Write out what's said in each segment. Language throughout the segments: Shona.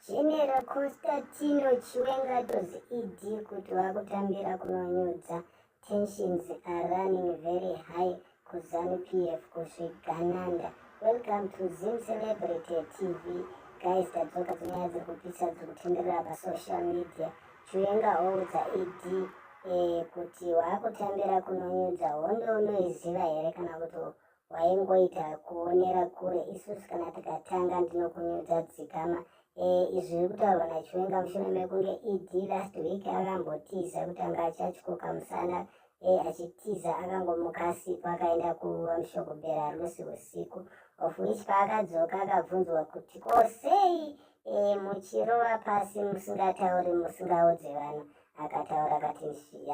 General Constantino Chiwenga told ED kuti vakutambira kunonyudza tensions are running very high kuzanu PF kusvigananda. Welcome to Zim Celebrity TV. Guys, tadzoka dzonyaya dziri kupisa dziri kutenderera pasocial media. Chiwenga oudza ED eh, kuti wakutambira kunonyudza hondo unoiziva here kana kuti waingoita kuonera kure isusu kana tikatanga ndinokunyudza dzikama eh, izvi zviri kutaurwa nachiwenga mushure mekunge ed last week akambotiza kuti anga achachikoka musana eh, achitiza akangomuka asipo akaenda kuva mushoko bera rusi usiku of which paakadzoka akabvunzwa kuti ko sei eh, muchirova pasi musingatauri musingaudze vanhu akataura akati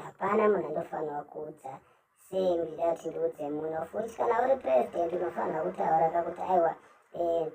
hapana munhu andofanirwa kuudza sei ndida kuti ndiudze muno futi kana uri president unofanira kutaura kakuti aiwa eh,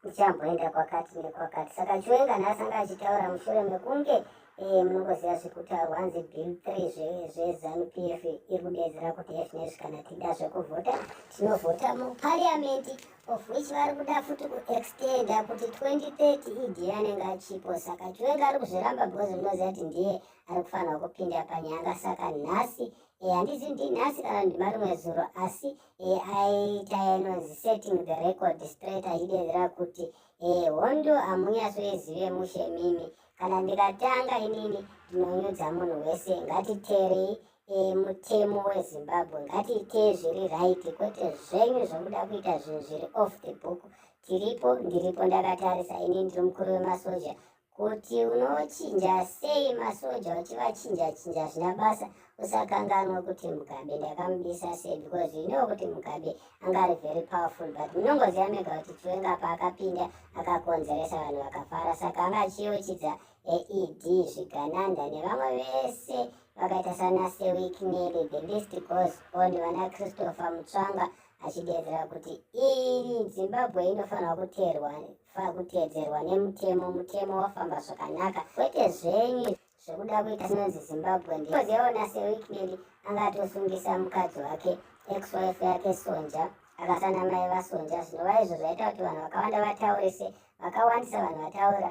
ndichamboenda kwakati nekwakati saka chiwenga nhasi anga achitaura mushure mekunge eh, munongoziva zvekutaurwa hanzi bill three zvezanupf iri kudedzera kuti fnezvi kana tida zvekuvhota tinovhota mupariamendi of which vari kuda futi kuextenda kuti 2030 idi anenge achipo saka chiwenga ari kuzviramba bhozi munoziva kuti ndiye ari kufanira kupinda panyanga saka nhasi e, handizi ndinhasi kana ndimarimwe zuro asi e, aita inonzi setting the record straight achidedzera kuti e, hondo hamunyasoizive mushe mimi kana ndikatanga inini ndinonyudza munhu wese ngatiteerei e, mutemo wezimbabwe ngatiitee zviri right kwete zvenyu zvokuda kuita zvinhu zviri off the book tiripo ndiripo ndakatarisa ini ndiri mukuru wemasoja kuti unochinja sei masoja uchivachinja chinja zvina basa usakanganwe kuti mugabe ndakamubisa sei because you know kuti mugabe anga ari very powerful but munongoziva mega kuti chiwenga paakapinda akakonzeresa vanhu vakafara saka anga achiyochidza aed zvigananda nevamwe vese vakaita sana sewik neli the list goes on vana christopher mutsvanga achideedzera kuti iri zimbabwe inofanirwa kuteerwa Faa kutedzerwa nemutemo mutemo wafamba zvakanaka kwete zvenyu zvekuda kuita sinonzi zimbabwe ndikozeona seweekend angatosungisa mukadzi wake exwife yake sonja akasana mai vasonja zvinova izvo zvaita kuti vanhu vakawanda vataurise vakawandisa vanhu vataura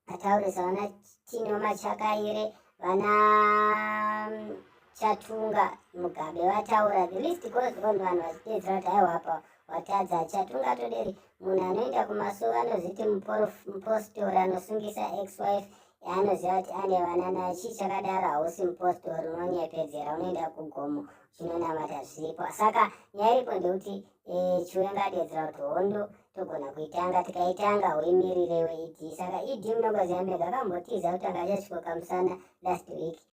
Ataurisa vana Tino Machakaire, vana mm, Chatunga Mugabe vataura. The list goes on vanhu vachiteedzera kuti haiwa apa watadza. Chatunga Toderi munhu anoenda kumasowe anoziti mupostori anosungisa ex-wife yaanoziva kuti ane vana naye. Chii chakadaro hausi mupostori unonyepedzera unoenda kugomo chinonamata zviripo. Saka nyaya iripo ndekuti eh, chiwenga adeedzera kuti hondo togona kuitanga tikaitanga huimirirei weidi saka ed munongoziva mega akambotiza kuti akachasvikoka musana last week